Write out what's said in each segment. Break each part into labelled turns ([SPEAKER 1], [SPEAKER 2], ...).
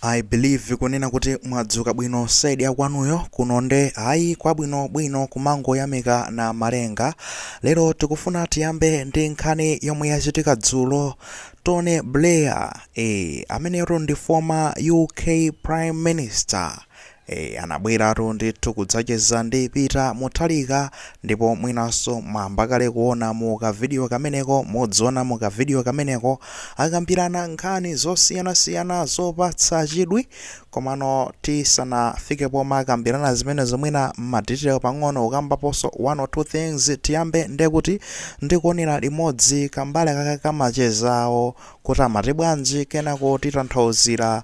[SPEAKER 1] I believe kunena kuti mwadzuka bwino side ya kwanuyo kuno nde ayi kwabwino bwino kumangoyamika Namalenga lero tikufuna tiyambe ndi nkhani yomwe yachitika dzulo Tony Blair eh ameneyo ndi former UK Prime Minister Eee anabweratu ndithu kudzacheza ndi Peter Muthalika ndipo mwinanso mwayamba kale kuona mu ka video kameneko, mudziona mu ka video kameneko akambirana nkhani zosiyanasiyana zopatsa chidwi komano tisanafike pomwe akambirana zimenezo mwina ma detail pang'ono kukambaponso one or two things tiyambe ndekuti ndikuonera limodzi kambali kaka kamacheza awo kuti amati bwanji kenako titanthauzira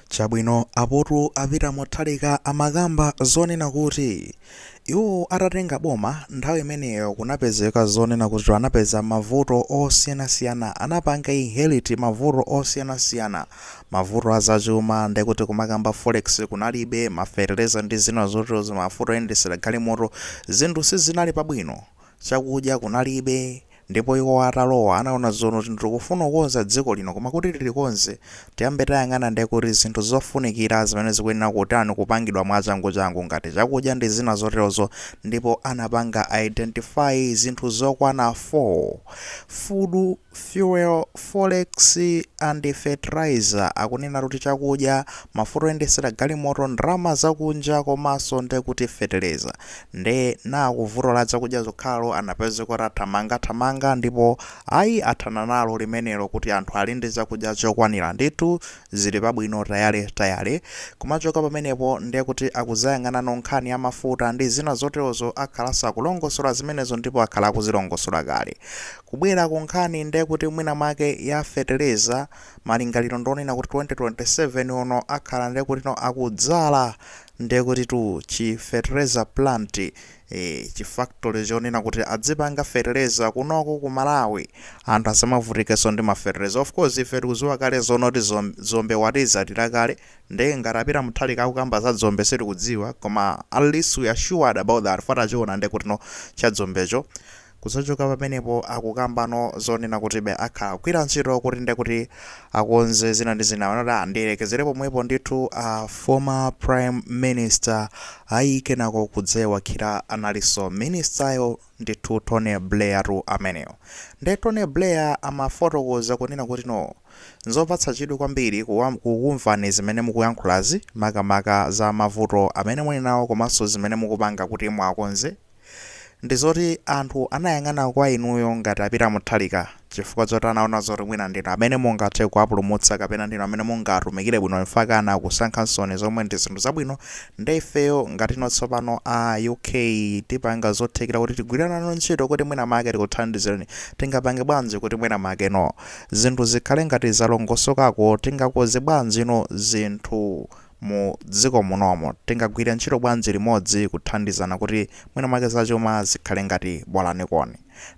[SPEAKER 1] Chabwino, apotu a Peter Mutharika amakamba zonena kuti iwo atatenga boma, nthawi imeneyo kunapezeka zonena kuti anapeza mavuto osiyanasiyana, anapanga inherit mavuto osiyanasiyana, mavuto a zachuma, ndekuti kumakamba forex kunalibe, ma fetereza ndi zina zoterozo, mafuta oyendetsera galimoto, zinthu sizinali pabwino, chakudya kunalibe, Ndipo iwo atalowa anaona zonena kuti tikufuna kukonza dziko lino koma kuti tilikonze tiyambe tayang'ana nde kuti zinthu zofunikira zimene zikuyenera kutani kupangidwa mwachangu changu ngati chakudya ndi zina zoterozo ndipo anapanga identify zinthu zokwana 4 food fuel forex and fertilizer akunena kuti chakudya mafuta oyendetsera galimoto ndalama zakunja komanso nde kuti feteleza Nde nakuvuto la zakudya zokhalo anapezeka kuti athamanga thamanga ndipo ayi athana nalo limenelo kuti anthu ali ndi chakudya chokwanira ndithu zili pabwino tayale tayale kumachoka pamenepo nde kuti akuzayang'anano nkhani ya mafuta ndi zina zotelozo akhalaso akulongosola zimenezo ndipo akhala akuzilongosola kale kubwela ku nkhani nde kuti mwina mwake ya feteleza malingalilo ndi onena kuti 2027 uno akhala nde kutino akudzala ndekutitu chi fertilizer plant ee chi factory chonena kuti adzipanga fertilizer kunoko ku Malawi anthu asamavutikeso ndi ma fertilizer of course ife tikuziwa kale zonena kuti zom, dzombe watidzalira kale nde ngati a Peter Muthalika akukamba za dzombe sitikudziwa koma at least we are sure about that far tachiona ndekutino cha dzombecho Kudzachoka pamenepo akukambano zonena kutibe akhala akugwira ntchito kuti nde kuti akonze zina ndi zina, pano taa ndiyerekezere pomwepo ndithu a former prime minister ayi kenako kudzawakhira analinso minister yo ndithu Tony Blair tu ameneyo nde Tony Blair amafotokoza kunena kuti no nzopatsa chidwi kwambiri kuwam kukumvani zimene mukuyankhulazi makamaka za mavuto amene muli nawo komanso zimene mukupanga kuti muwakonze ndizoti anthu anayang'ana kwa inuyo ngati a Peter Muthalika chifukwa zoti anaona zoti mwina ndinu amene mungathe kuwapulumutsa kapena ndinu amene mungatumikire bwino mpakana kusankha nsoni zomwe ndi zinthu zabwino nde ifeyo ngatino tsopano a uk tipanga zothekera kuti tigwira nanu ntchito kuti mwina make tikuthandizireni tingapange bwanji kuti mwina makeno zinthu zikhale ngati zalongosokako tingakoze bwanjino zinthu mu dziko munomo. Tingagwire ntchito bwanji limodzi kuthandizana kuti mwina mwake za chuma zikhale ngati bolaniko.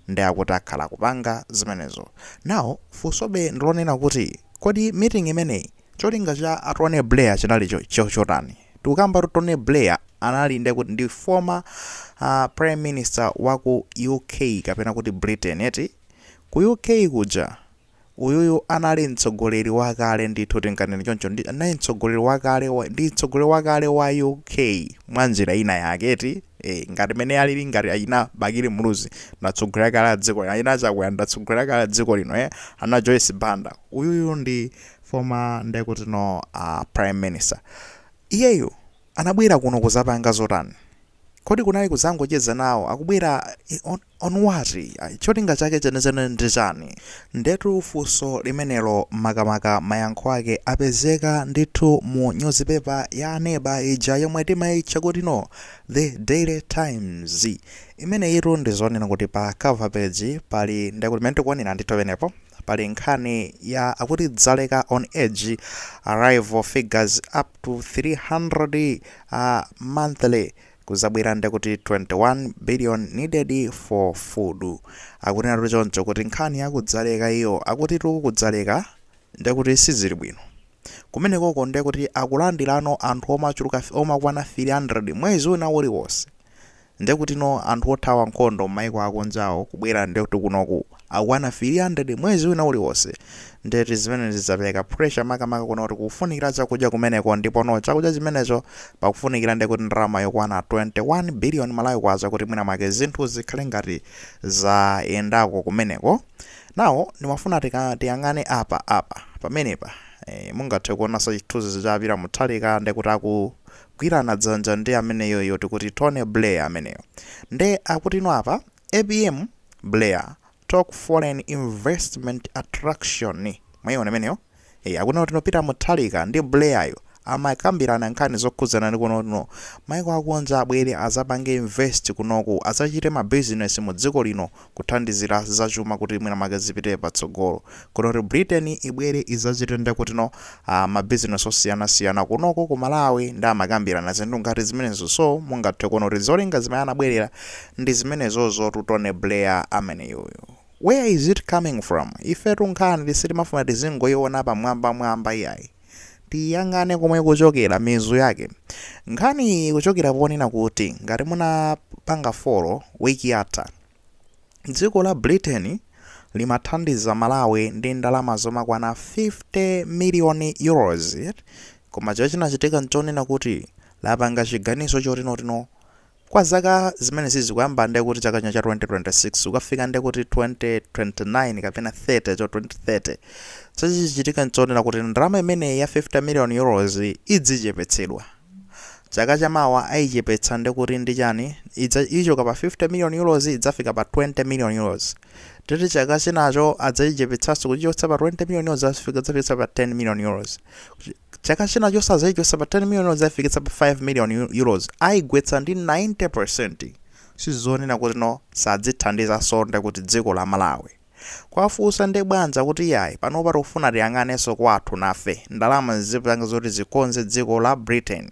[SPEAKER 1] Nde akuti akhala akupanga zimenezo. Now, funsobe ndi lonena kuti, kodi meeting imeneyi cholinga cha a Tony Blair chinali chotani? Tikukambatu Tony Blair anali nde kuti ndi former Prime Minister wa ku UK kapena kuti Britain eti? Ku UK kuja. Uyuyu anali mtsogoleri wakale ndithu tinganene choncho ndi anali mtsogoleri wakale wa, ndi mtsogoleri wakale wa UK mwa njira ina yake eti e, ngati mene alili ngati achina Bakili Muluzi ndi atsogoleri akale a dziko lino achina Chakwera ndi atsogoleri akale a dziko lino e, ana Joyce Banda uyuyu ndi former ndekuti no uh, prime minister iyeyu anabwera kuno kuzapanga zotani Kodi kunali kudzangocheza nawo? Akubwera on what? Cholinga chake chenicheni ndi chani? Ndetu funso limenelo makamaka mayankho ake apezeka ndithu mu nyuzipepa ya aneba ija yomwe timaitcha kuti no The Daily Times. Imeneyitu ndi zonena kuti pa cover page pali ndekuti mmene tikuonera ndithu penepo. pali nkhani ya akuti dzaleka on edge arrival figures up to 300 monthly kuzabwera nde akuti 21 billion needed for food akunenatu choncho kuti nkhani ya kudzaleka iyo akutitu kudzaleka nde kuti sizili bwino kumenekoko nde kuti akulandilano anthu omachuluka omakwana 300 mwezi wina uliwonse Ndekutino anthu othawa nkhondo mmaiko akunjawo kubwera ndekuti kunoku akukwana 300 mwezi wina uliwonse ndeti zimenezi zapeleka pressure makamaka kunena kuti kukufunikila chakudya kumeneko ndipono chakudya chimenecho pakufunikila ndekuti ndalama yokwana 21 billion Malawi kwacha kuti mwina mwake zinthu zikhale ngati zayendako kumeneko now ndimafuna tika tiyang'ane apa apa pamenepa ee mungathe kuonanso chithunzi cha Peter Muthalika ndekuti aku Gwirana dzanja ndi ameneyoyo tikuti Tony Blair ameneyo nde akutino apa APM Blair talk foreign investment attraction mwaiona imeneyo ee akunena kutino Peter Muthalika ndi Blair yo amakambirana nkhani zokhudzana ndi kunena kutino maiko akunja abwere azapange invest kunoku azachite ma business mu dziko lino kuthandizira za chuma kuti mwina mwake zipite patsogolo kuno kuti britain ibwere izachite nde kutino uh, mabizinesi osiyanasiyana kunoko ku malawi ndi amakambirana zinthu ngati zimenezo so mungathe kuona kuti zolinga zimene anabwerera ndi zimenezozo Tony Blair ameneyuyu where is it coming from ifetu nkhani sitimafunati zingoiona pamwambamwamba iyayi tiyang'ane komwe kuchokera mizu yake nkhani ikuchokera ponena kuti ngati munapanga folo wiki yatha dziko la britain limathandiza malawi ndi ndalama zomakwana 50 million euros koma chachinachitika nchonena kuti lapanga chiganizo chotinotino Kwa zaka zimenezi kuyamba nde kuti chaka chino cha 2026 kukafika nde kuti 2029 kapena 30 cho 2030 chichitike nchonena kuti ndalama imeneyi ya 50 million euros idzichepetsedwa chaka chamawa ayichepetsa nde kuti ndi chani ichoka pa 50 million euros idzafika pa 20 million euros ndiye chaka chinacho adzayichepetsanso kuichotsa pa 20 million euros adzafikitsa pa 10 million euros Kuchi- Chaka chinachonso adzaichotsa pa 10 million euros ayifikitsa pa 5 million euros aigwetsa ndi 90%. Sizonena kuti no sadzithandizanso nde kuti dziko la Malawi. Kuwafunsa nde bwanji akuti iyayi panopa tikufuna tiyang'anenso kwathu nafe ndalama zizipanga zoti zikonze dziko la Britain.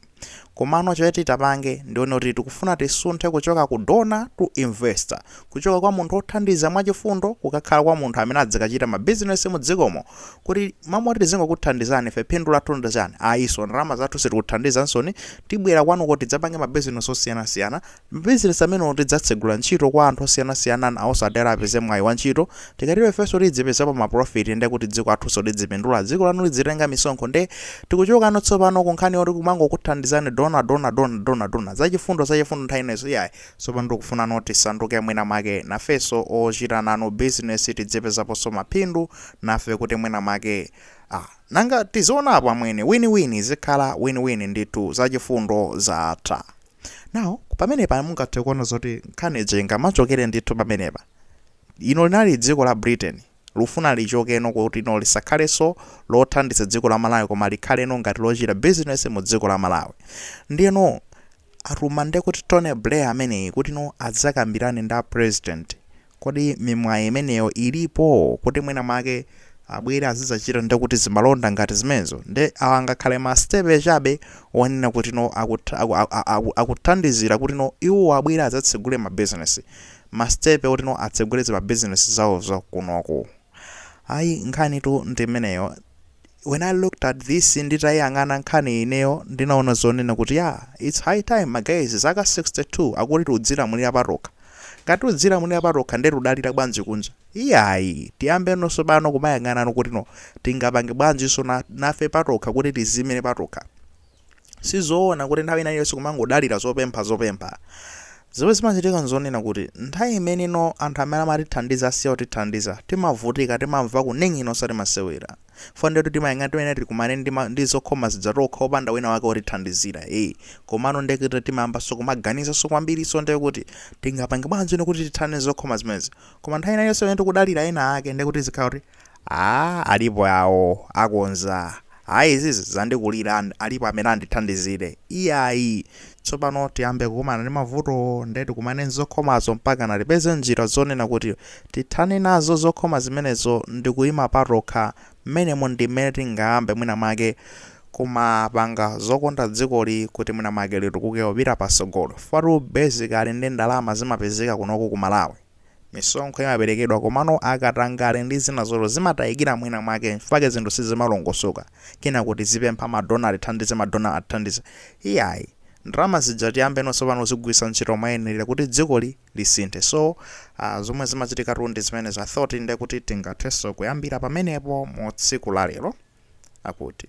[SPEAKER 1] Komano choti tipange nchonena kuti tikufuna tisunthe kuchoka ku donor to investor, kuchoka kwa munthu othandiza mwachifundo kukakhala kwa munthu amene adzikachita ma business mu dzikomo, kuti m'malo moti tizingokuthandizani ife phindu lathu ndi chani, ayi so, ndalama zathu sitikuthandizansoni, tibwera kwanuko tidzapange ma business osiyanasiyana, Mabizinesi amenewo tidzatsegula ntchito kwa anthu osiyanasiyana nawonso apeze mwayi wa ntchito, tikatero ifenso tidzipezapo ma profit nde kuti dziko lathunso lidzipindula, dziko lanu lidzitenga misonkho nde tikuchokano tsopano ku nkhani yoti kumangokuthandizani donor, donor, donor, donor, donor, za chifundo, za chifundo nthawi zonse iyayi, tsopano tikufunano tisanduke mwina mwake nafenso ochita nanu bizinesi tidzipezaponso maphindu nafe kuti mwina mwake ah nanga tizionapo amwene, win win, izikhala win win ndithu, za chifundo zatha. now pamenepa mungathe kuona zoti nkhani ija ingamachokera ndithu pamenepa ino linali dziko la britain lufuna lichokeno kuti no lisakhalenso lothandiza dziko la malawi koma likhaleno ngati lochita business mu dziko la malawi ndiyeno atuma nde kuti tony blair ameneyi kuti no adzakambirane ndi a president Kodi mimwayi imeneyo ilipo kuti mwina mwake abwere azidzachita nde kuti zimalonda ngati zimenezo nde awa angakhale ma stepe chabe onena kuti no akuthandizira kuti no iwowo abwere adzatsegule ma business ma stepe oti no atsegule ma business awo kunoko ayi nkhanitu ndi imeneyo When I looked at this nditayiyang'ana nkhaniyi ineyo ndinaona zonena kuti yaa its high time ma guys zaka 62 akuti tikudzilamulira patokha. Ngati tikudzilamulira patokha nde tikudalira bwanji kunja? Iyayi tiyambenonso pano kumayang'anano kutino tingapange bwanjinso nafe patokha kuti tiziyimire patokha. Si zoona kuti nthawi ina iliyonse kumangodalira zopempha zopempha. Zimene zimachitika n'zonena kuti nthawi imene ino anthu amene amatithandiza asiya kutithandiza, timavutika, timamva kunong'ona osati masewera. Chifukwa ndiyetu timayang'ana timene tikumane ndi, ma, ndi zokhoma zija tokha opanda wina wake wotithandizira. E, komano ndiye kuti timayambanso kumaganiza kwambirinso ndiye kuti tingapange bwanji ino kuti tithane ndi zokhoma zimenezi. Koma nthawi ina iliyonse imene tikudalira ena ake ndiye kuti zikhala kuti Aaa alipo awo akonza ayi izizi zandikulira and alipo amene andithandizire iyayi tsopano tiyambe kukumana ndi mavutowo nde tikumane nzokhomazo mpakana tipeze njira zonena kuti tithane nazo zokhoma zimenezo ndikuima patokha mmenemo ndimmene tingayambe mwina mwake kumapanga zokonda dzikoli kuti mwina mwake litukuke kupita pasogolo chifukwatu basically nde ndalama zimapezeka kunoko ku Malawi Misonkho imaperekedwa komano akatangale ndi zina zotero zimatayikira mwina mwake nchifukwa chake zinthu sizimalongosoka. Kenako tizipempha ma donor atithandize ma donor atithandize. Iyayi. Ndalama zija tiyambenonso pano kuzigwiritsa ntchito moyenerera kuti dzikoli lisinthe. So, aah zomwe zimachitikatu ndi zimenezo. I thought ndekuti tingathenso kuyambira pamenepo mu tsiku la lero. Akuti.